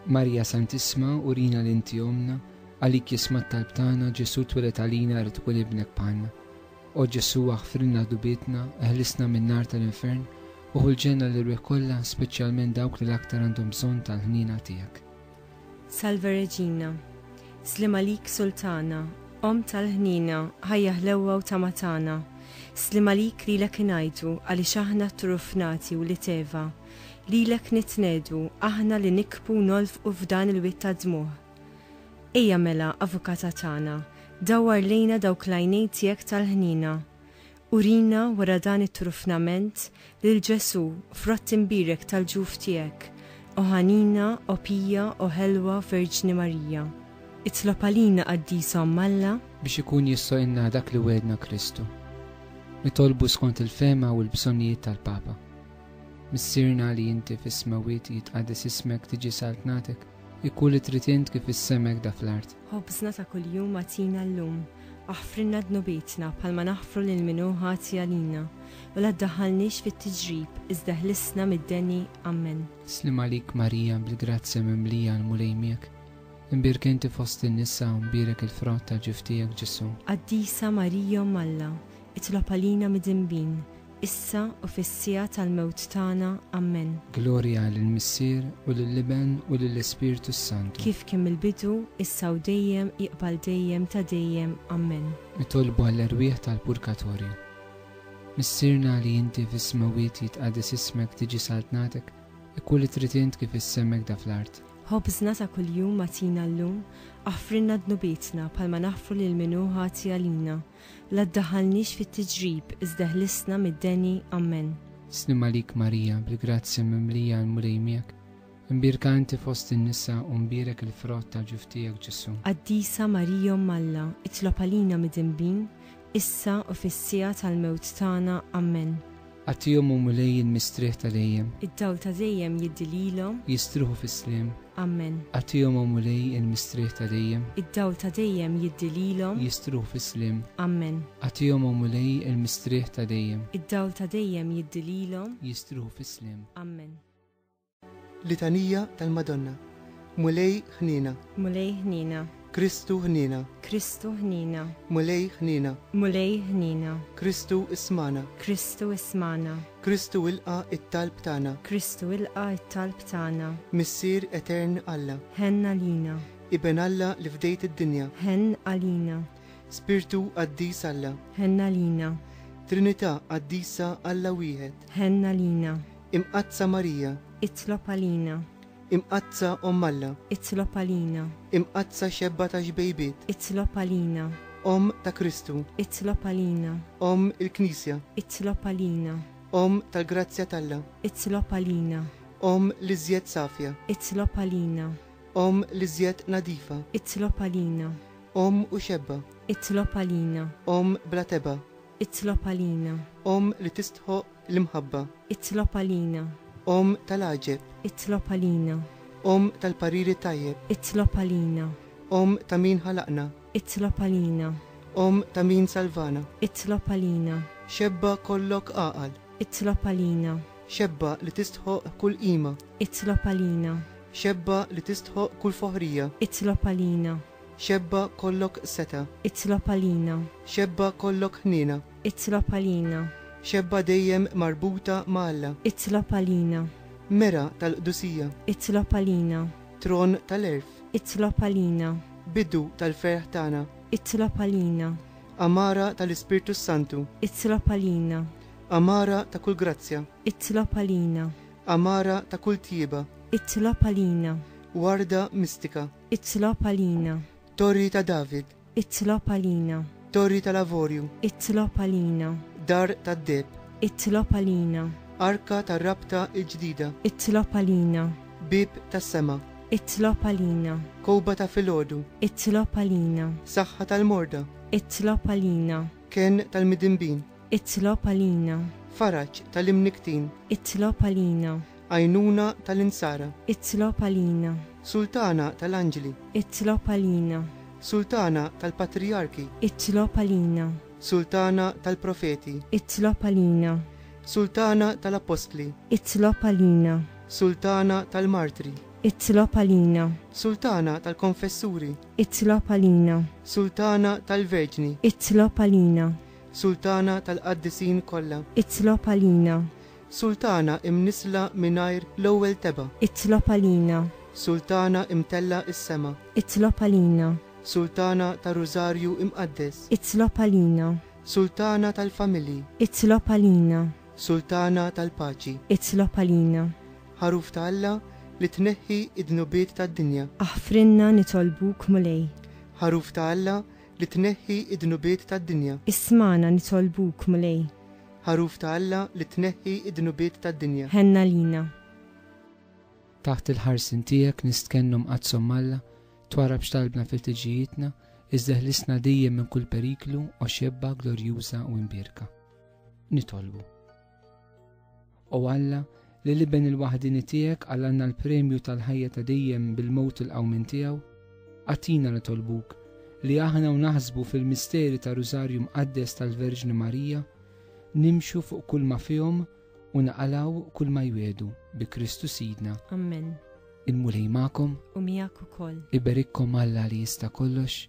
Marija Santisma, urina li inti omna, għalik jisma t-talb tagħna Ġesu twilet għalina rrid ikun ibnek bħalna. O Ġesu aħfrilna dubitna, eħlisna min-nar tal-infern, uħu l-ġenna l-irwieħ kollha, speċjalment dawk li l-aktar għandhom bżonn tal-ħniena tiegħek. Salve Regina. Sliem għalik Sultana, Omm tal-ħniena, ħajja ħlewwa u tama tagħna. Sliem għalik lilek ingħajtu, għaliex aħna tturufnati u l-iteva. Lilek nitnedu, aħna li nikbu u nolfqu f'dan il-wied tad-dmugħ. Ejja mela, Avukata tagħna, dawwar lejna dawk l-għajnejn tiegħek tal-ħniena. Urina wara dan it-trufnament lil Ġesù f'rott imbierek tal-ġuf tiegħek, O Ħanina, O Pija, O Ħelwa Verġni Marija. Itlob għalina Qaddisa Omm Alla. Biex ikun jistgħu inna dak li wegħedna Kristu. Nitolbu skont il-fehma u l-bżonnijiet tal-Papa. Missierna li inti fis-smewwiet jitqaddes ismek tiġi saltnatek, ikun li trid int kif is-sema hekk da fl-art. Ħobżna ta' kuljum agħtina llum. Aħfrilna dnubietna bħalma naħfru lil min hu ħati għalina, u la ddaħħalniex fit-tiġrib, iżda ħlisna mid-deni. Ammen. Sliem għalik Marija bil-grazzja mimlija l-Mulej miegħek, imbierka inti fost in-nisa u mbierek il-frott ta' ġiftijek Ġesù. Qaddisa Marija Omm Alla, itlob għalina midinbin, issa u fis-siegħa tal-mewt tagħna. Ammen. Glorja lill-Missier, u lill-Iben, u lill-Ispirtu s-Santu. Kif kien mill-bidu, issa u dejjem, iqbal dejjem ta' dejjem. Ammen. Nitolbu għall-erwieħ tal-purkatorju. Missierna li inti fis-smewwiet jitqaddes ismek tiġi saltnatek, ikku li trid int kif is-sema hekk da fl-art. Ħobżna ta' kuljum agħtina llum, aħfrilna dnubietna bħalma naħfru lil min hu ħati għalina. La ddaħħalniex fit-tiġrib, iżda ħlisna mid-deni. Ammen. Slim għalik Marija, bil-grazzja mimlija l-Mulej miegħek, imbierka inti fost in-nisa u mbierek il-frott tal-ġuf tiegħek Ġesù. Qaddisa Marija Omm Alla, itlob għalina midinbin, issa u fis-siegħa tal-mewt tagħna. Ammen. Agħtihom u Mulej jien mistrieħ tal-ejjem. Id-dawl ta' dejjem jiddi lilhom. Jistrieħu fis-sliem. Ammen. Agħtihom u Mulej jien mistrieħ tal-ejjem. Id-dawl ta' dejjem jiddi lilhom. Jistrieħu fis-sliem. Ammen. Agħtihom u Mulej jien mistrieħ tal-ejjem. Id-dawl ta' dejjem jiddi lilhom. Jistrieħu fis-sliem. Ammen. Litanija tal-Madonna. Mulej ħniena. Mulej ħniena. Kristu ħniena. Kristu ħniena. Mulej ħniena. Mulej ħniena. Kristu ismagħna. Kristu ismagħna. Kristu ilqa' t-talb tagħna. Kristu ilqa' t-talb tagħna. Missier Etern Alla. Ħenn għalina. Iben Alla li fdejt id-dinja. Ħenn għalina. Spirtu qaddis Alla. Ħenn għalina. Trinità qaddisa Alla wieħed. Ħenn għalina. Imqaddsa Marija. Itlob għalina. Imqaddsa Omm Alla. Itlob għalina. Imqaddsa Xebba tax-Xbejbiet. Itlob għalina. Omm ta' Kristu. Itlob għalina. Omm il-Knisja. Itlob għalina. Omm tal-grazzja t'Alla. Itlob għalina. Omm l-iżjed safja. Itlob għalina. Omm l-iżjed nadifa. Itlob għalina. Omm u xebba. Itlob għalina. Omm bla tebgħa. Itlob għalina. Omm li tistħoqq l-imħabba. Itlob għalina. Omm tal-għaġeb. Itlob għalina. Omm tal-parir it-tajjeb. Itlob għalina. Omm ta' min ħalaqna. Itlob għalina. Omm ta' min salvana. Itlob għalina. Xebba kollok għaqal. Itlob għalina. Xebba li tistħoqq kull qima. Itlob għalina. Xebba li tistħoqq kull foħrija. Itlob għalina. Xebba kollok seta'. Itlob għalina. Xebba kollok ħniena. Itlob għalina. Xebba dejjem marbuta ma' Alla. Itlob għalina. Mera tal-qdusija. Itlob għalina. Tron tal-għerf. Itlob għalina. Bidu tal-ferħ tagħna. Itlob għalina. Għamara tal-Ispirtu s-Santu. Itlob għalina. Għamara ta' kull grazzja. Itlob għalina. Għamara ta' kull tjieba. Itlob għalina. Warda mistika. Itlob għalina. Torri ta' David. Itlob għalina. Torri tal-Avorju. Itlob għalina. Dar tad-Deheb. Itlob għalina. Arka tar-Rabta l-Ġdida. Itlob għalina. Bieb tas-Sema. Itlob għalina. Kowba ta' filgħodu. Itlob għalina. Saħħa tal-morda. Itlob għalina. Kenn tal-midinbin. Itlob għalina. Faraġ tal-imnikktin. Itlob għalina. Għajnuna tal-Insara. Itlob għalina. Sultana tal-Anġli. Itlob għalina. Sultana tal-Patrijarki. Itlob għalina. Sultana tal-Profeti. Itlob għalina. Sultana tal-Appostli. Itlob għalina. Sultana tal-Martri. Itlob għalina. Sultana tal-Konfessuri. Itlob għalina. Sultana tal-Verġni. Itlob għalina. Sultana tal-Qaddisin kollha. Itlob għalina. Sultana imnissla mingħajr l-ewwel tebgħa. Itlob għalina. Sultana imtellgħa is-sema. Itlob għalina. Sultana tar-Rużarju Imqaddes. Itlob għalina. Sultana tal-familji. Itlob għalina. Sultana tal-paċi. Itlob għalina. Ħaruf ta' Alla li tneħħi d-dnubiet tad-dinja. Aħfrilna nitolbuk, Mulej. Ħaruf ta' Alla li tneħħi d-dnubiet tad-dinja. Ismagħna nitolbuk, Mulej. Għaruf ta' Alla li tneħħi d-dnubiet tad-dinja. Ħenna lina. Taħt il-ħarsien tiegħek nistkennu mqaddshom Alla, twarrab x'talbna f'iltiġijietna, iżda ħlisna dejjem minn kull periklu, o xebba glorjuża u imbierka. Nitolbu. O Alla, Lil Iben il-waħdieni tiegħek għallanna l-premju tal-ħajja ta' dejjem bil-mewt u l-qawmien tiegħu. Agħtina nitolbuk li aħna u naħsbu fil-misteri tar-Rużarju Mqaddes tal-Verġni Marija nimxu fuq kulma fihom u naqalgħu kulma jwiegħdu bi Kristu Sidna. Ammen. Il-Mulej magħkom. U miegħek ukoll. Iberikkom Alla li jista' kollox,